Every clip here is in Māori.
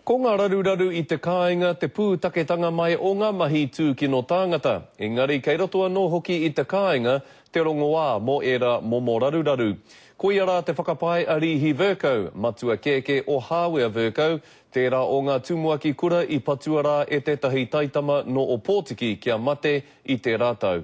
Ko ngā raruraru i te kāinga te pūtaketanga mai o ngā mahi tūkino tāngata, engari kei roto anō hoki i te kāinga te rongoā mō ērā momo raruraru. Koia rā te whakapae a Rīhi Vercoe, matua kēkē o Hāwea Vercoe, tērā o ngā tumuaki kura i patua rā e tētahi taitama nō Ōpōtiki kia mate i tērā tau.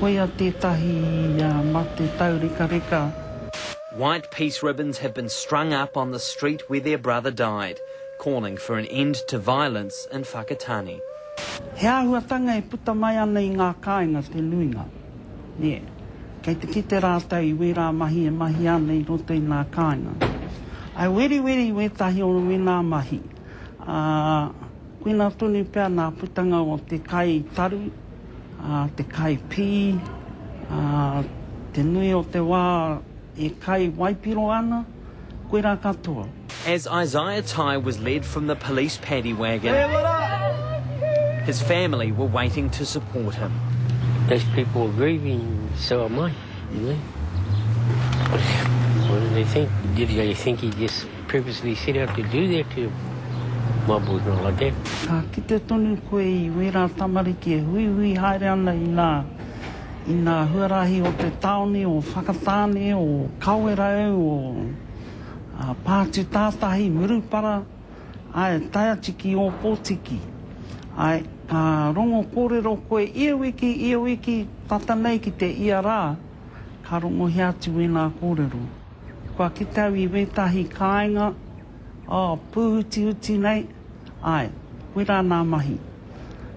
Koia tētahi mate taurekareka. White peace ribbons have been strung up on the street where their brother died, calling for an end to violence in Whakatane. He āhuatanga e puta mai ana i ngā kāinga te nuinga. Nē, kei te kite rātou i wērā mahi e mahia ana i roto i ngā kāinga. I weriweri wētahi o wēnā mahi. ā, koina tonu pea ngā putanga o te kai taru, ā, te kai pī, ā, te nui o te wā e kai waipiro ana, koirā katoa. As Isaiah Tighe was led from the police paddy wagon, his family were waiting to support him. Those people were grieving, so am I, you know. What do they think? Did they think he just. Previously set out to do that to my boyfriend like that. Ka kite tonu koe i wērā tamariki e huihui haere ana i ngā, i ngā huarahi o te tāone, o Whakatāne, o Kawerau, o Pātutātahi, Murupara, āe, tae atu ki Ōpōtiki. Āe, ka rongo kōrero koe ia wiki, ia wiki, tata nei ki te ia rā, ka rongohia atu wēnā kōrero. Kua kite au i wētahi kāinga, oh, pūhutihuti nei, āe, koirā nā mahi.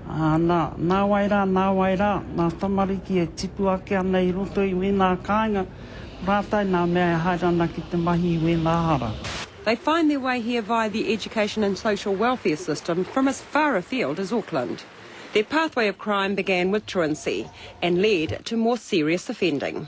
Ā, nā, nāwai rā, nāwai rā, ngā tamariki e tipu ake ana i roto i wēnā kāinga, ko rātou nā mea e haere ana ki te mahi i wēnā hara. They find their way here via the education and social welfare system from as far afield as Auckland. Their pathway of crime began with truancy and led to more serious offending.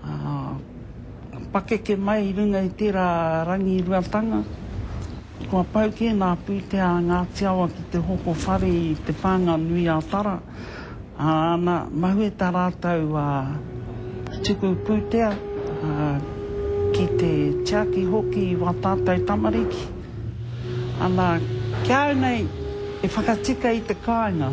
Ā, pakeke mai i runga i tērā rangiruatanga, kua pau kē nā pūtea a Ngāti Awa ki te hoko whare i te pānga nui a Tara, ā, nā, mahue tā rātou, ā, tuku pūtea, ā, ki te tiaki hoki i wā tātou tamariki. Ana, ki a au nei, e whakatika i te kāinga.